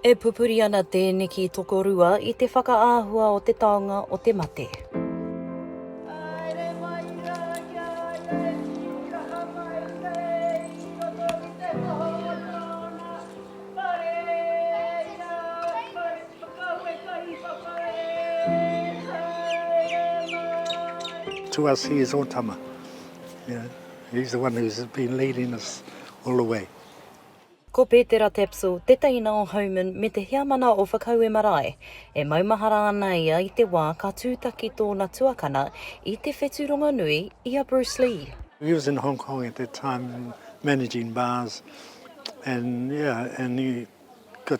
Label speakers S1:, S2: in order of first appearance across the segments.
S1: E pupuri ana tēneki tokorua i te whakaahua o te taonga o te mate. To us he is Otama, he's the one who's been leading us all the way. Ko Pētera Tapsell tētahi nā o Homan me te heamana o Whakaue Marae. E maumahara ana ia i te wā ka tūtaki tōna tuakana i te whetu rongonui i a Bruce Lee. He was in Hong Kong at that time managing bars and yeah and he got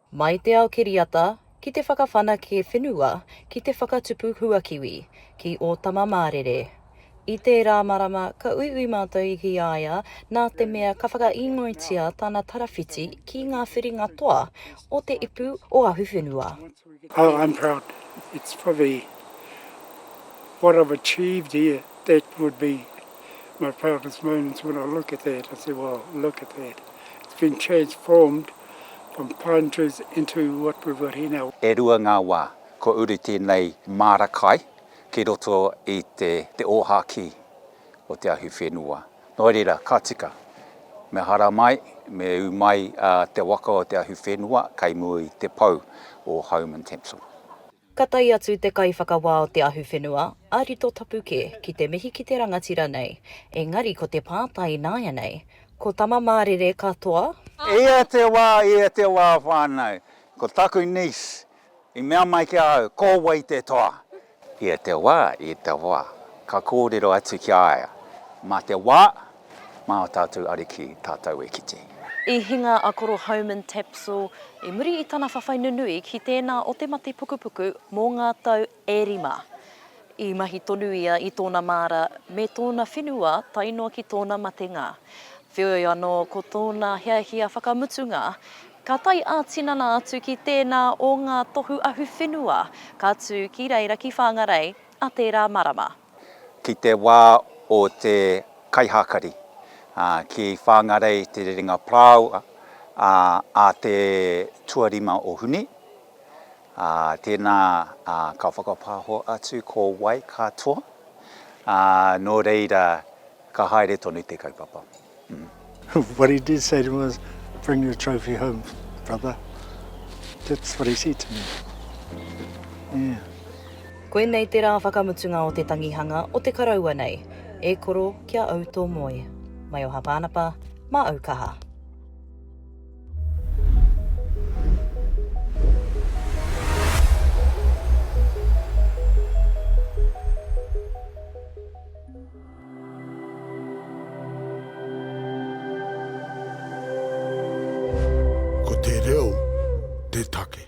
S1: Mai te ao kiriata, ki te whakawhanake whenua, ki te whakatupu huakiwi, ki ō tama mārere. I tērā marama ka uiui mātou i ki a ia nā te mea ka whakaīngoitia tana tarawhiti ki ngā whiringa toa o te ipu o Ahuwhenua. Oh, I'm proud. It's probably what I've achieved here, that would be my proudest moments when I look at that, I say, well, look at that. It's been transformed. from pine trees into what we've got here now. E rua ngā wā kua uru tēnei māra kai ki roto i te te ōhākī o te ahi whenua. Nō reira, ka tika, me hara mai, me ū mai te waka o te ahi whenua kei mua i te pou o Home and Temple. Ka tae atu te Kaiwhakawā o te Ahuwhenua, a Rito Tapu kē, ki te mihi ki te rangatira nei, engari ko te pātai ināianei, ko Tama Mārere ka toa? Ia te wā, ia te wā whānau, ko taku niece i mea mai ki a au, ko wai te toa? Ia te wā, ia te wā, ka kōrero atu ki a ia, mā te wā, Mā ō tātou Ariki tātou e kite. I hinga a Koro Homan Tapsell i muri i tana whawhai nunui ki tēnā o te mate pukupuku mō ngā tau e rima. I mahi tonu ia i tōna māra me tōna whenua tae noa ki tōna matenga. Wheoi anō ko tōna hiahia whakamutunga, ka tae ā-tinana atu ki tēnā o ngā tohu ahuwhenua ka tū ki reira ki Whangarei ā tērā marama. ki te wā o te kaihakari, ki Whangarei Te Rerenga Parāoa a te tuarima o Hune. Tēnā ka whakapāho atu ko wai katoa, nō reira ka haere tonu te kaupapa. What he did say to him was, Bring your trophy home, brother. That's what he said to me. Yeah. Koinei te rā whakamutunga o te tangihanga o te karaua nei. E koro, kia au tō moe. Mai o Hapānapa, mā au kaha. Ko te reo te take.